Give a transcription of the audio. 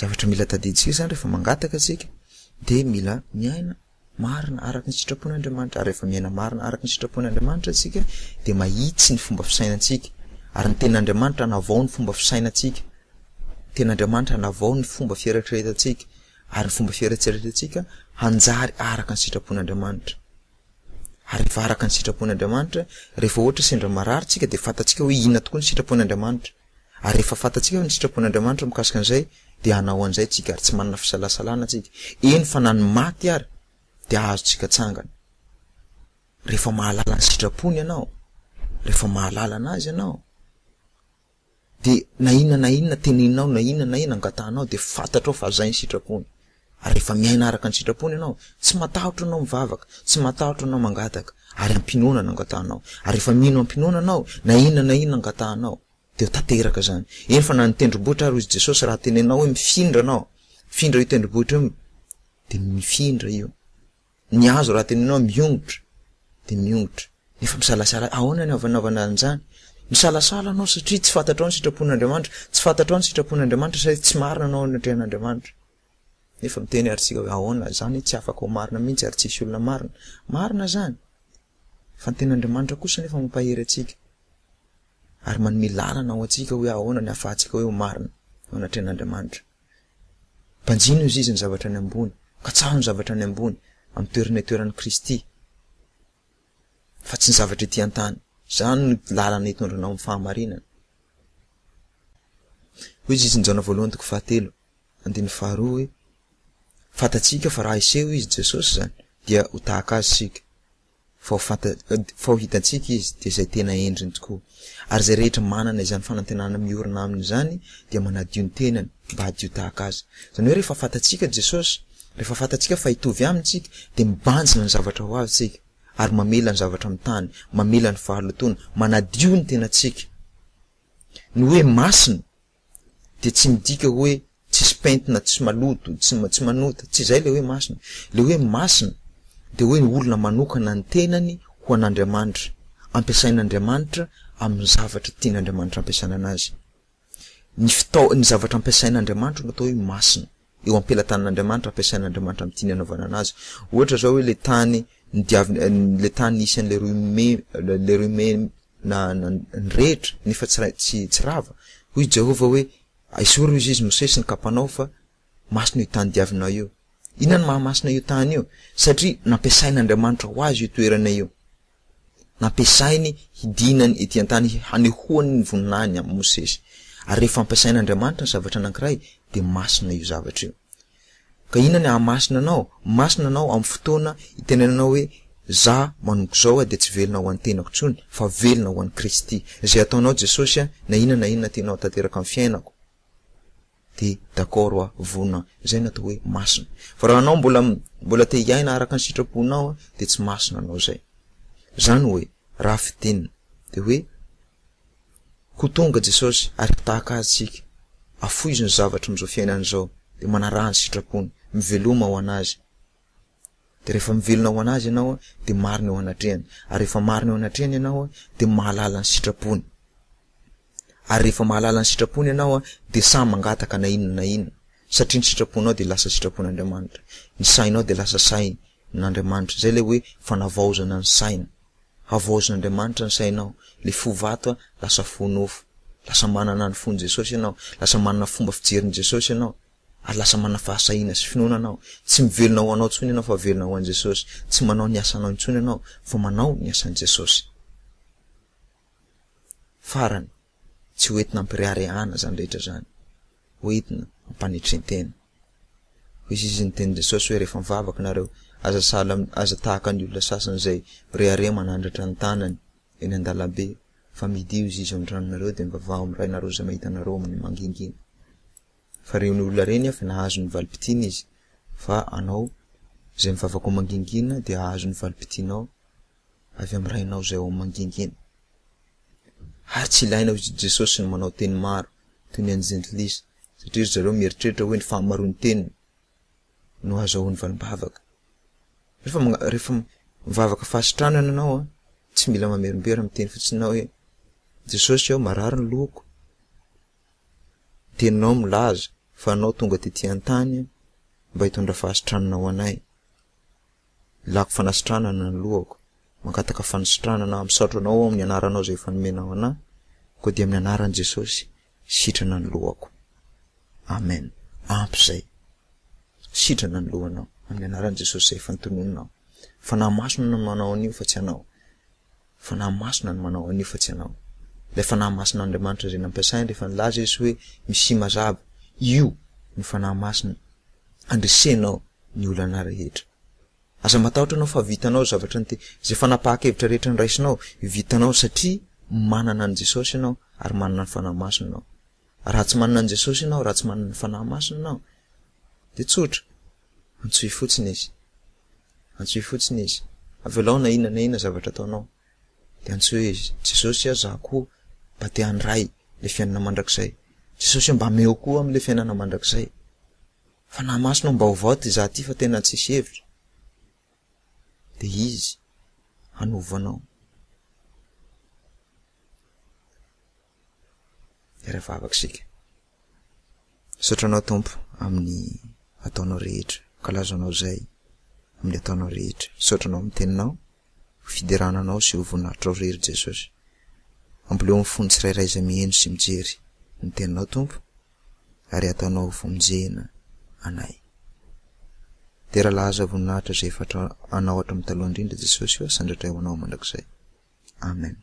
Zavatra mila tadidintsika izany rehefa mangataka isika dia mila miaina marina araka ny sitrapon'Andriamanitra ary rehefa miaina marina araka ny sitrapon'Andriamanitra isika dia mahitsy ny fomba fisainantsika ary ny tenin'Andriamanitra hanavao ny fomba fisainantsika ny tenin'Andriamanitra hanavao ny fomba fieritreretantsika ary ny fomba fieritreretantsika hanjary araka ny sitrapon'Andriamanitra ary rehefa araka ny sitrapon'Andriamanitra rehefa ohatra sendra marary tsika dia fantatsika hoe inona tokoa ny sitrapon'Andriamanitra Ary rehefa fantatsika ny sitrapon'Andriamanitra mikasika an'izay, dia hanao an'izay tsika, ary tsy manana fisalasalana tsika, eny fa na ny maty ary dia azontsika tsangana. Rehefa mahalala ny sitrapony ianao, rehefa mahalala an'Azy ianao, dia na inona na inona teneninao, na inona na inona angatahanao, dia fantatrao fa zay ny sitrapony. Rehefa miaina araka ny sitrapony ianao, tsy matahotra ianao mivavaka, tsy matahotra ianao mangataka, ary am-pinoana no angatahanao. Ary rehefa mino am-pinoana ianao, na inona na inona angatahanao, dia ho tanteraka izany. Eny fa na ny tendrombohitra ary, hoy i Jesosy, raha tenenao hoe, Mifindra anao, mifindra io tendrombohitra io, dia mifindra io. Ny hazo raha tenenao miongotra dia miongotra, nefa misalasala, ahoana ny hanaovana an'izany? Misalasala anao satria tsy fantatrao ny sitrapon'Andriamanitra, tsy fantatrao ny sitrapon'Andriamanitra satria tsy marina anao anatrehan'Andriamanitra. Nefa miteny ary tsika hoe ahoana izany tsy afaka ho marina mihitsy ary tsisy olona marina. Marina izany. Fa ny ten'Andriamanitra kosa nefa mampahery antsika. Ary manome lalana ho antsika hoe ahoana ny ahafahantsika hoe ho marina anatrehan'Andriamanitra. Banjino izy izy ny zavatra any ambony, katsaho ny zavatra any ambony, amin'ny toerana itoeran'i Kristy, fa tsy ny zavatra ety an-tany. Izany no lalana hitondra anao amin'ny fahamarinana. Hoy Jesosy, Jaona voalohany toko fahatelo, andininy faharoa hoe, Fantatsika fa raha hiseho Izy, Jesosy izany, dia ho tahaka Azy isika. Vao fanta, vao hitantsika Izy, dia izay tena endriny tokoa. Ary izay rehetra manana izany fanantenana miorina Aminy izany dia manadio ny tenany mba hadio tahaka Azy. Izany hoe rehefa fantatsika Jesosy, rehefa fantatsika fa hitovy Aminy isika, dia mibanjina ny zavatra ho avy isika, ary mamela ny zavatra amin'ny tany, mamela ny fahalotoana, manadio ny tenantsika. Ny hoe masina dia tsy midika hoe tsisy pentina, tsy maloto, tsy tsy manota, tsy izay ilay hoe masina. Ilay hoe masina dia hoe ny olona manokana ny tenany ho an'Andriamanitra, ampiasain'Andriamanitra amin'ny zavatra tian'Andriamanitra ampiasana anazy. Ny fitao, ny zavatra ampiasain'Andriamanitra no atao hoe masina. eo am-pelatanan'Andriamanitra ampiasain'Andriamanitra amin'ny tiany hanaovana anazy. Ohatra izao hoe ilay tany nodiaviny, ilay tany nisy an'ilay Rohime, ilay Rohime na, na nirehitra nefa tsy ra, tsy, tsy rava. Hoy Jehovah hoe, Esory hoy Izy, Mosesy, ny kapanao fa masina io tany diavinao io. Inona no maha masina io tany io? Satria nampiasain'Andriamanitra ho azy io toerana io. nampiasainy hidinany ety an-tany hanehoany ny voninahiny amin'i Mosesy. Ary rehefa ampiasain'Andriamanitra ny zavatra anankiray dia masina io zavatra io. Ka inona ny hahamasina anao? Masina anao amin'ny fotoana itenenanao hoe, Za manomboka izao dia tsy velona ho an'ny tenako intsony fa velona ho an'i Kristy. Izay ataonao Jesosy, na inona na inona tianao hatanteraka amin'ny fiainako. de d'accord hoa vonona zay natao hoe masina fa raha anao mbola mbola te hiaina araka ny sitraponao de tsy masina anao zay zany hoe raha fidina de hoe ko tonga jesosy ary mpitahaka azy tsika afoizo ny zavatra amizao fiainana zao de manaraha ny sitrapony miveloma ho anazy Dia rehefa mivelona ho an'Azy ianao dia marina eo anatrehany. Ary rehefa marina eo anatrehany ianao dia mahalala ny sitrapony. Ary rehefa mahalala ny sitrapony ianao dia sahy mangataka na inona na inona. Satria ny sitraponao dia lasa sitrapon'Andriamanitra. Ny sainao dia lasa sain'Andriamanitra. Izay ilay hoe fanavaozana ny saina. Havaozin'Andriamanitra ny sainao. Ilay fo vato lasa fo nofo. Lasa manana ny fon'i Jesosy ianao. Lasa manana fomba fijerin'i Jesosy ianao. ary lasa manana fahasahiana sy finoana anao. Tsy mivelona ho anao intsony ianao fa velona ho an'i Jesosy. Tsy manao ny asanao intsony ianao fa manao ny asan'i Jesosy. Farany, tsy ho entina ampireharehana izany rehetra izany. Ho entina ampanetren-tena. Hoy izy izy ny tenin'i Jesosy hoe rehefa mivavaka nareo, aza sahala, aza tahaka ny olona sasany izay mirehareha manandratra ny tanany eny an-dalambe, fa midio izy izy ao an-tranonareo dia mivavaha amin'ny Rainareo izay mahita anareo amin'ny mangingina. Fa reny olona reny avy nahazo ny valim-pitiana izy, fa anao, izay mivavaka ao mangingina dia hahazo ny valim-pitianao avy amin'ny Rainao izay ao mangingina. Ary tsy ilaina ho izy Jesosy no manao teny maro toy ny an'ny Jentilisa, satria ry zareo mieritreritra hoe ny fahamaroan'ny teniny no ahazahoany valim-bavaka. Rehefa magna- rehefa mivavaka fahasitranana ianao an, tsy mila mamerimbery miteny fotsiny ianao hoe, Jesosy ô, marary ny lohako, Teninao milaza fa anao tonga tety an-tany mba hitondra fahasitranana ho anay. Ilako fanasitranana ny lohako. Mangataka fanisitranana aho. Misaotra Anao ao amin'ny anaranao izay efa nomenao anah, koa dia amin'ny anaran'i Jesosy, sitrana ny lohako. Amen. Ampy izay. Sitrana ny lohanao, amin'ny anaran'i Jesosy izay efa notononinao. Fanahy Masina no manao an'io fa tsy anao. Fanahy Masina no manao an'io fa tsy ianao. Ilay Fanahy Masin'Andriamanitra izay nampiasainy rehefa nilaza Izy hoe Mesia mazava, io no Fanahy Masina andresenao ny olanà rehetra. Aza matahotra ianao fa vitanao izay zavatra nte, izay fanapahan-kevitra rehetra niraisinao, vitanao satria manana an'i Jesosy ianao ary manana ny Fanahy Masina ianao. Raha tsy manana an'i Jesosy ianao, raha tsy manana ny Fanahy Masina ianao, dia tsotra, antsoy fotsiny Izy. Antsoy fotsiny izy. Avelao na inona na inona zavatra ataonao. Dia antsoy izy. Jesosy a, za koa mba te handray le fiainana mandrakizay. Jesosy a, mba ameo koa am le fiainana mandrakizay. Fa na masina ho mbaovao ty za ty fa tena tsisy hevitra. Dia Izy hanovo anao. Hiara-vavaka isika. Misaotra Anao Tompo amin'ny ataonao rehetra, ankalazanao izay amin'ny ataonao rehetra. Misaotra Anao amin'ny teninao, ho fiderana Anao sy ho voninahitrao irery Jesosy. Amboleo amin'ny fon'ny tsirairay izay miheno sy mijery ny teninao Tompo, ary ataonao ho vonjena anay. Dera laza voninahitra izay efa Anao hatramin'ny taloha indrindra Jesosy ô, sandratray ho Anao mandrakizay. Amen.